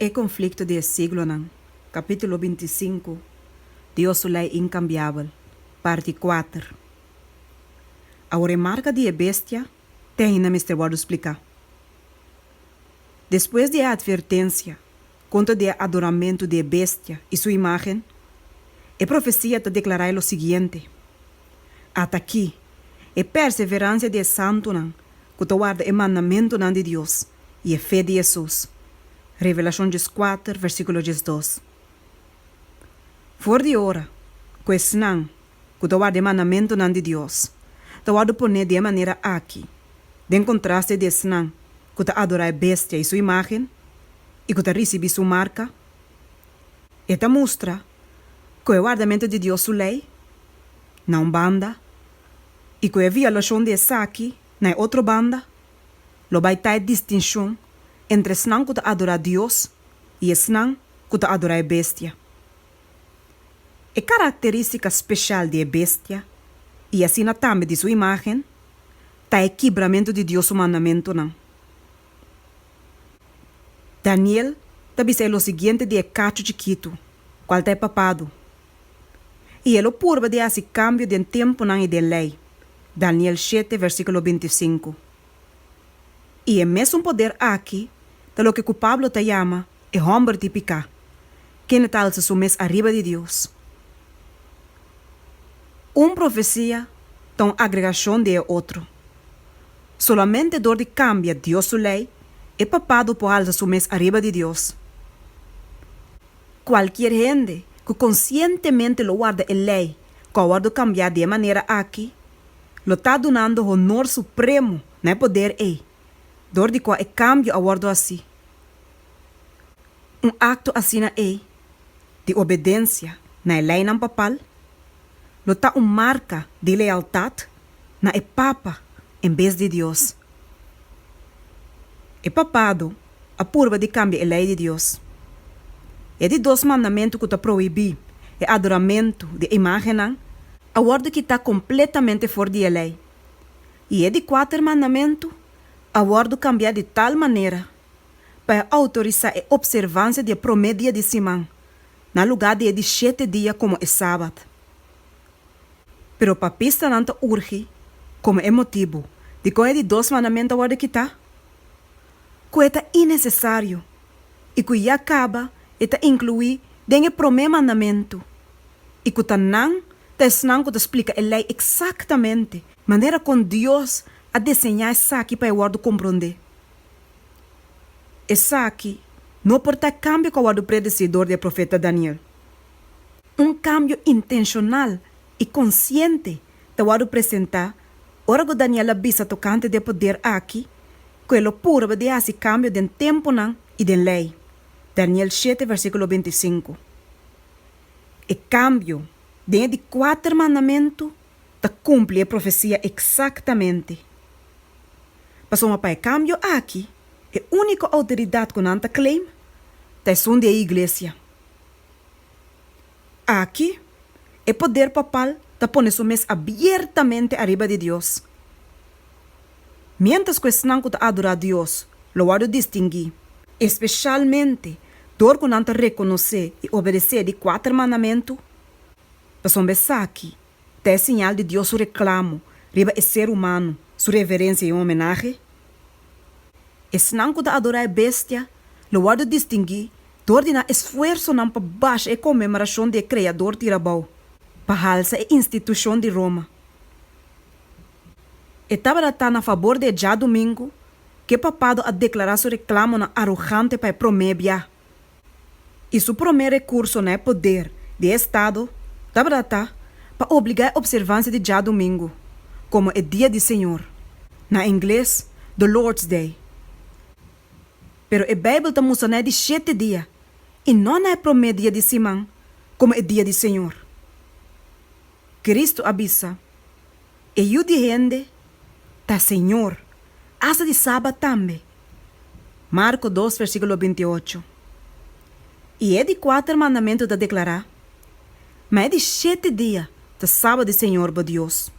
E konflikto di e siglonan, Kapítulo binti i sinku, Dios su Lei Inkambiabel, Parti kuater. Awor e marka di e bestia te ainda mester wòrdu spliká. Despues di e atvertensia kontra di e adoramentu di e bestia i su imágen, e profesia ta deklará e lo siguiente, Ata akí e perseveransia di e santunan ku ta warda e mandamentunan di Dios. i e fe di Hesus, Revelashon djes kuater, versíkulo djes dos. For di ora ku esnan ku ta warda e mandamentunan di Dios ta wòrdu poné di e manera aki, den kontraste di esnan ku ta adorá e bestia i su imágen i ku ta risibí su marka, e ta mustra ku e wardamentu di Dios su lei na un banda i ku e violashon di esaki na e otro banda. Lo bai ta e distinshon entre esnan ku ta adorá Dios i esnan ku ta adorá e bestia. E karakterístika speshal di e bestia, i asina tambe di su imágen, ta e kibramentu di Dios su mandamentunan. Daniel ta bisa e lo siguiente di e kachu chikitu, kual ta e papadu. i e lo purba di hasi kambio den tempunan i den lei, Daniel shete versíkulo binti sinku. I e mesun poder aki ta loke ku Pablo ta yama e hòmber di piká, kende ta alsa su mes ariba di Dios. Un profesia ta un agregashon di e otro. Solamente dor di kambia Dios su lei, e papado por alsa su mes ariba di Dios. Cualkier hende cu conscientemente lo warda e ley cu a wordo cambia di e manera aki, lo ta dunando honor supremo na e poder ei, dor di cua e cambio a wordo haci. Un acto asina ei di obedencia na e leynan papal lo ta un marka di lealtat na e papa en bes di Dios. E papado a purba di kambia e lei di Dios. I e di dos mandamentu ku ta prohibí e adoramentu di e imágennan a wòrdu kitá kompletamente for di e lei, i e di kuater mandamentu a wòrdu kambiá di tal manera pa e outorisá e opservansia di e promé dia di siman na lugá di e di shete dia komo e Sabat. Pero papistanan ta urgi komo e motibu dikon e di dos mandamento a wòrdu kitá, ku e ta inesesario i ku ya kaba e ta inkluí den e promé mandamentu i ku ta nan ta esnan ku ta splika e Lei eksaktamente manera kon Dios a deseñá esaki pa e wòrdu komprondé. Esaki no por ta e kambio ku a wòrdu predesí dor di e profeta Daniel. Un kambio intenshonal i konsiente ta wòrdu presentá ora ku Daniel a bisa tokante di e poder akí ku e lo purba di hasi kambio den tempunan i den lei, Daniel shete versíkulo binti i sinku. E kambio den e di kuater mandamentu. ta kumpli e profesia eksaktamente. Pasobra pa e kambio aki e úniko outoridat ku nan ta claim ta esun di e iglesia. Aki e poder papal ta pone su mes abiertamente ariba di Dios. Miéntras ku esnan ku ta adorá Dios lo wòrdu distinguí, espeshalmente dor ku nan ta rekonosé i obedesé di kuater mandamentu, Pasobra esaki ta e siñal di Dios su reklamo riba e ser humano, su reverencia i homenahe. Esnan ku ta adorá e bestia lo wòrdu distinguí dor di na esfuersonan pa basha e konmemorashon di e Kreador tira abou, pa halsa e institushon di Roma. E tabata ta na fabor di e djadumingu ku e papado a deklará su reklamonan arogante pa e promé biaha. i su promé rekurso na e poder di e estado tabata ta pa obligá e opservansia di djadumingu komo e dia di Señor, na ingles, The Lord's Day. Pero e Beibel ta mustra na e di shete dia i no na e promé dia di siman komo e dia di Señor. Cristo a bisa. E yu di hende ta señor asta di sabat tambe. Marko dos versíkulo binti i ocho. I e di kuater mandamentu ta deklará, Ma e di shete dia ta sabat di señor bo Dios.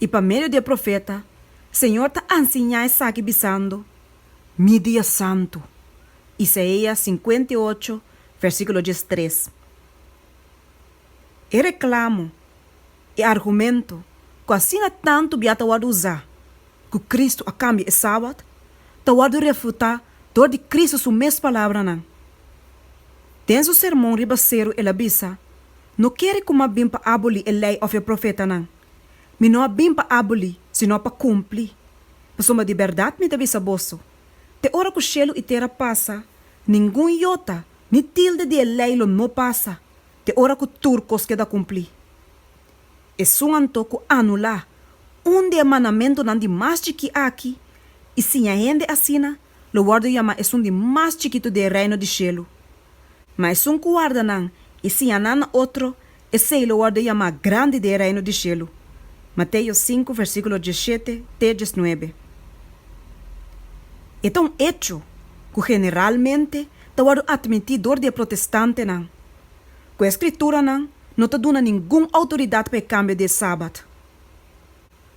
I pa medio di e profeta, señor ta a nsiñá esaki bisando, Mi dia santu. Isaia sinkuenta i ocho versíkulo dies tres. E reklamo. e argumento ku asina tantu bia ta wòrdu usá, ku Kristu a kambia e Sabat, ta wòrdu refutá dor di Kristu su mes palabranan. Den su Sermon riba Seru el a bisa, No kere ku mi a bin pa abolí e Lei òf e profetanan. Mi no a bin pa abolí, sino pa kumplí. Pasobra di bèrdat mi ta bisa boso, te ora ku shelu i tera pasa, ningun yota ni tilde di e Lei lo no pasa, te ora ku tur kos keda kumplí. Esun anto ku anulá un di e mandamentunan di mas chikí akí i siña hende asina lo wòrdu yamá esun di mas chikitu di e Reino di shelu. Ma esun ku warda nan i siña nan na otro, esei lo wòrdu yamá grandi di e Reino di shelu. Mateo sinku versíkulo diesshete te diesnuebe. E ta un echo ku generalmente ta wòrdu atmintí dor di e protestantenan ku e skrituranan no ta duna ningun outoridat pa e kambio di e Sabat,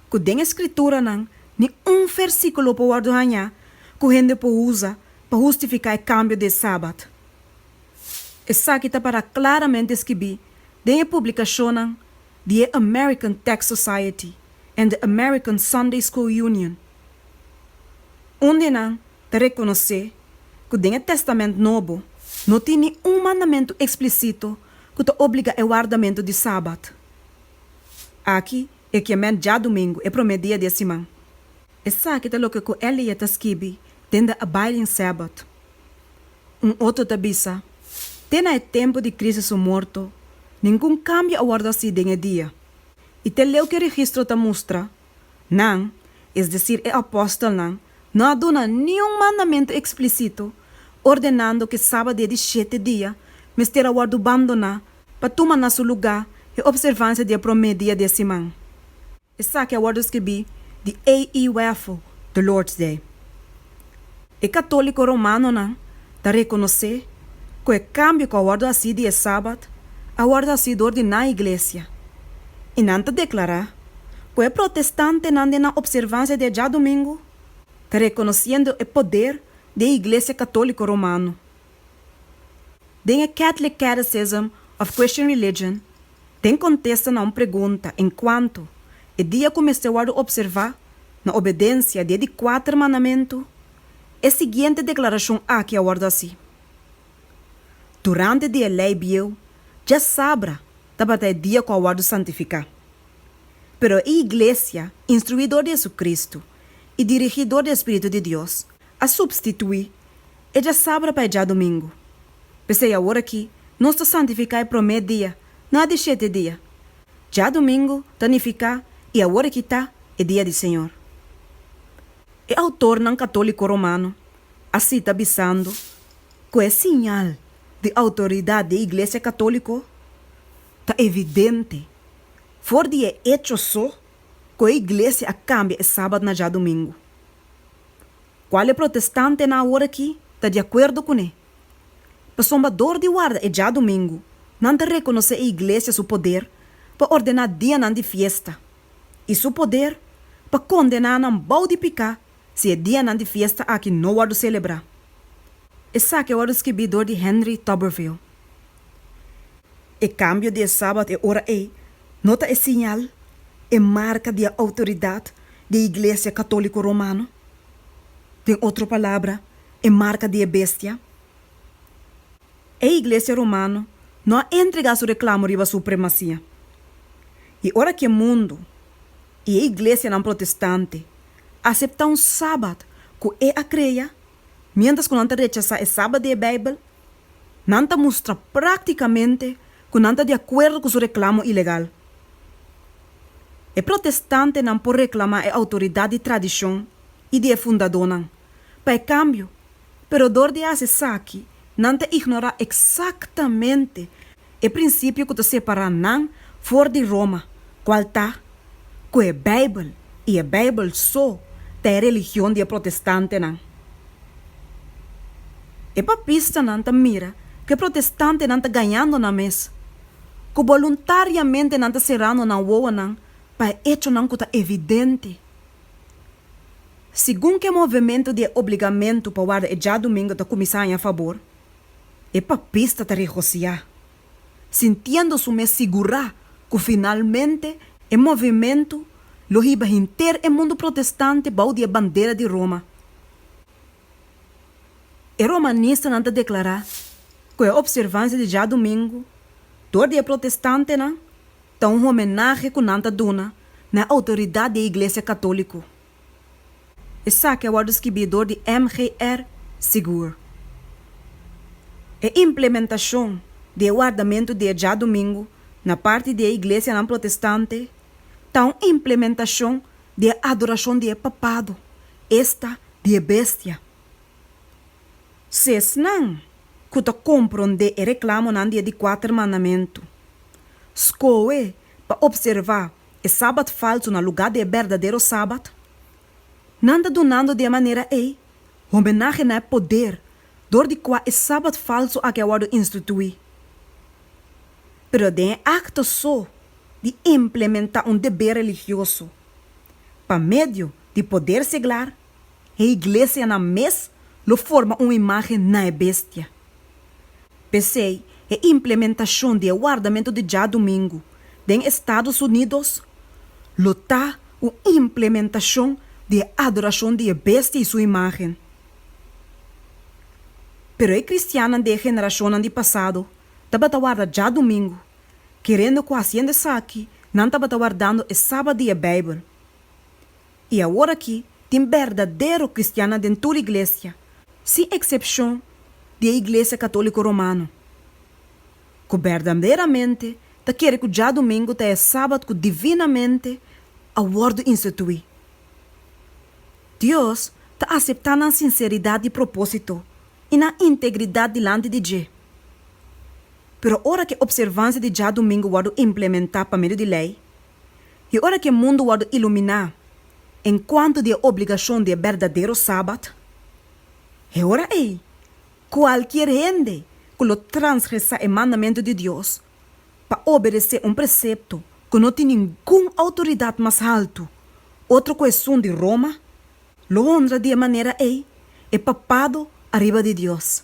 ku den e skrituranan ni un fèrsikulo por wòrdu hañá ku hende por usa pa hustifiká e kambio di e Sabat. Esaki ta pará klaramente skibí den e publikashonnan di e American Text Society en The American Sunday School Union. Un di nan ta rekonosé ku den e Tèstamènt Nobo no tin ni un mandamentu eksplisito ku ta obligá e wardamentu di Sabat. Aki e kiamen djadumingu, e promé dia di e siman. Esaki ta loke ku Elie ta skibi den de Abiding Sabbath. Un otro ta bisa, Te na e tempu di Kristu su morto, ningun kambio a wòrdu hasí den e dia. I te leu ku e registro ta mustra, Nan, es decir e apòstelnan, no a duna niun mandamentu explicito ordenando cu e sabadé di shete dia mester a wòrdu bandoná pa tuma na su lugá e observancia di e promé dia di e siman. Esaki a wòrdu scribí di A. E. Wheffer, The Lord's Day. E católico romanonan ta reconoce cu e cambio cu a wordo haci di e Sabat a wordo haci door di nan Iglesia, y nan ta declara cu e protestantenan den nan observancia di e djadomingo ta reconociendo e poder di e Iglesia católico romano. den e Catholic Catechism of Christian Religion, den contesta na un pregunta en cuanto e dia cu mester worde observa na obedencia di e di cuater mandamentu, e siguiente declaracion aki a worde haci, Durante di e ley bieu, dja sabra tabata e dia cu a worde santifica. Pero e Iglesia, instrui dor di Jesucristo y dirigi dor di e Spiritu di Dios, a supstituí e djasabra pa e djadumingu. P'esei aworakí nos ta santifiká e promé dia na e di shete dia. Djadumingu ta nifiká i aworakí ta e dia di Señor. E outornan katóliko romano a sita bisando ku e siñal di outoridat di e iglesia katóliko ta evidente for di e echo so ku e iglesia a kambia e Sabat na djadumingu. Kual e protestantenan aworakí ta di akuerdo kuné? Pasobra dor di warda e djadumingu, nan ta rekonosé e iglesia su poder pa ordená dianan di fiesta i su poder pa kondená nan bou di piká si e dianan di fiesta aki no wòrdu selebrá. Esaki a wòrdu skibí dor di Henry Tuberville. E kambio di e Sabat e ora ei no ta e siñal, e marka di e outoridat di e Iglesia Katóliko Romano? Den otro palabra, e marka di e bestia? E Iglesia Romano no a entregá su reklamo riba supremasia. I ora ke mundu i e iglesianan protestante a aseptá un Sabat ku e a krea, Miéntras ku nan ta rechasá e Sabat di e Beibel, nan ta mustra práktikamente ku nan ta di akuerdo ku su reklamo ilegal. E protestantenan por reklamá e outoridat di tradishon i di e fundadónan pa e kambio, pero dor di hasi esaki nan ta ignorá eksaktamente e prinsipio ku ta separá nan for di Roma, kual ta ku e Beibel i e Beibel so ta e religion di e protestantenan. E papistanan ta mira ku e protestantenan ta gañando nan mes, ku boluntariamente nan ta serando nan wowonan pa e echonan ku ta evidente. Segun ku e movementu di e obligamentu pa warda e djadumingu ta kuminsá haña fabor, E papis ta ta regosiá, sintiendo su mes sigurá cu finalmente e movimentu lo hiba henter e mundu protestante bou di e bandera di Roma. E romanistanan ta declará cu e observancia di djadumingu dor di e protestantenan ta un homenahe cu nan ta duna na e autoridad di e Iglesia Catolico. Esaki a wòrdu skibí dor di MGR Sigur. E implementashon di e wardamentu di e djadumingu na parti di e iglesianan protestante ta un implementashon di e adorashon di e papado, esta di e bestia. Si esnan ku ta komprondé e reklamonan di e di kuater mandamentu skohe pa opservá e sabat falsu na lugá di e berdadero sabat? Nan ta dunando di e manera ei homenahe na e poder dor di kua e sabat falsu aki a wòrdu instituí. Pero den e akto so di implementá un deber religioso pa medio di poder seglar, E iglesianan mes lo forma un imágen na e bestia. P'esei, e implementashon di e wardamentu di djadumingu den Estados Unidos lo ta un implementashon di e adorashon di e bestia i su imágen. Pero e kristiannan di e generashonnan di pasado tabata warda djadumingu, kerendo ku hasiendo esaki nan tabata wardando e Sabat di e Beibel. I awor aki tin berdadero kristiannan den tur iglesia, sin eksepshon di e Iglesia Katóliko Romano, ku berdaderamente ta kere ku djadumingu ta e sabat ku divinamente a wòrdu instituí. Dios ta aseptá nan sinseridat di propósito i nan integridat dilanti di dje. Pero ora ku e opservansia di djadumingu wòrdu implementá pa medio di lei, I ora ku e mundu wòrdu iluminá enkuanto di e obligashon di e berdadero Sabat, e ora ei kualkier hende ku lo transgresá e mandamentu di Dios pa obedesé un presepto ku no tin ningun outoridat mas haltu otro ku esun di Roma, lo honra di e manera ei e papado ariba di Dios.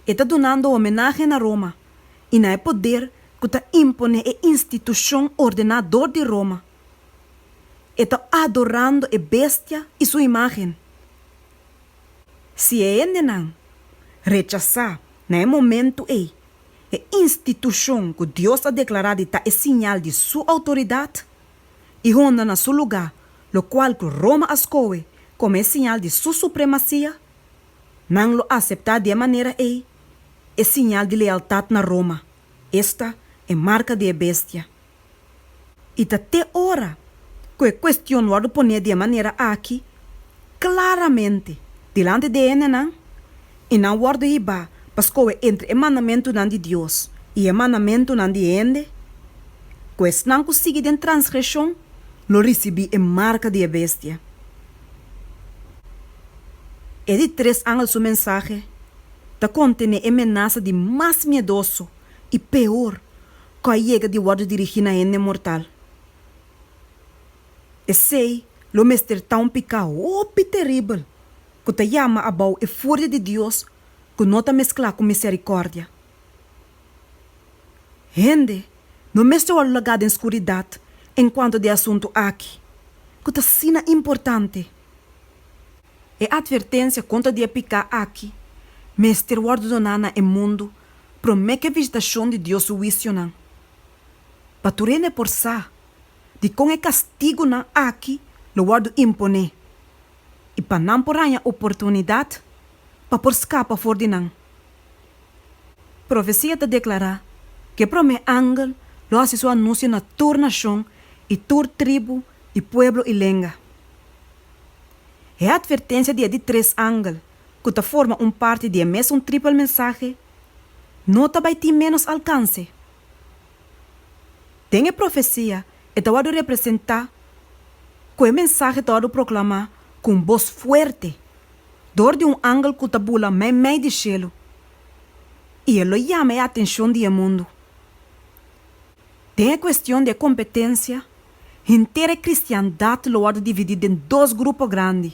e ta dunando homenahe na Roma i na e poder ku ta imponé e institushon ordená dor di Roma. E ta adorando e bestia i su imágen. Si e hendenan rechasá na e momentu ei e institushon ku Dios a deklará di ta e siñal di su outoridat, i honda na su lugá lokual ku Roma a skohe kome e siñal di su supremasia, Nan lo aseptá di e manera ei e siñal di lealtat na Roma, esta e marka di e bestia. I ta te ora ku e kuestion wòrdu poné di e manera aki klaramente dilanti di hendenan, i nan wòrdu hibá pa skohe entre e mandamentunan di Dios i e mandamentunan di hende, ku esnan ku sigui den transgreshon lo risibí e marka di e bestia. E di tres angel su mensahe ta kontené e menasa di mas miedoso i peor ku a yega di wòrdu dirigí na hende mortal. Esei lo mester ta un piká hopi teribel ku ta yama abou e furia di Dios ku no ta mesklá ku miserikòrdia. Hende no mester wòrdu lagá den skuridat enkuanto di e asuntu aki ku ta asina importante. E atvertensia kontra di e piká aki mester wòrdu doná na e mundu promé ku e vizitashon di Dios su huisionan, pa tur hende por sa di kon e kastigunan aki lo wòrdu imponé i pa nan por haña oportunidat pa por skapa for di nan. Profesia ta deklará, K'e promé angel lo hasi su anuncio na tur nashon i tur tribu i pueblo i lenga. E atvertensia di e di tres angel, ku ta forma un parti di e mesun tripel mensahe, no ta bai tin ménos alkanse. Den e profesia e ta wòrdu representá ku e mensahe ta wòrdu proklamá ku un bos fuerte. dor di un angel ku ta bula mei mei di shelu, i e lo yama e atenshon di e mundu. Den e kuestion di e kompetensia, henter e kristiandat lo wòrdu dividí den dos grupo grandi,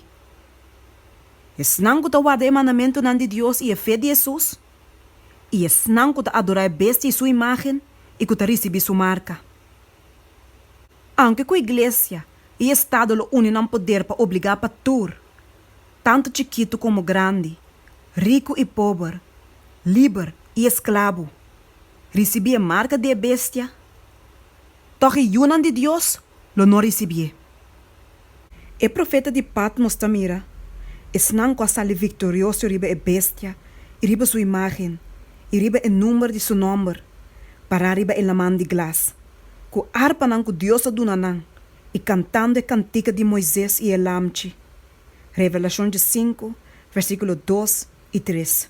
esnan ku ta warda e mandamentunan di Dios i e fe di Hesus, i esnan ku ta adorá e bestia i su imágen i ku ta risibí su marka. Aunke cu Iglesia y Estado lo uni nan poder pa obliga pa tur, tanto chikitu como grandi, ricu y pober, liber y esclabo, ricibi e marca di e Bestia, tog e yunan di Dios lo no ricibié. E profeta di Patmos ta mira esnan ku a sali viktorioso riba e bestia i riba su imágen i riba e number di su nòmber pará riba e laman di glas, ku arpanan ku Dios a duna nan i kantando e kantika di Moises i e Lamchi. Revelashon dje sinku, versíkulo dos i tres.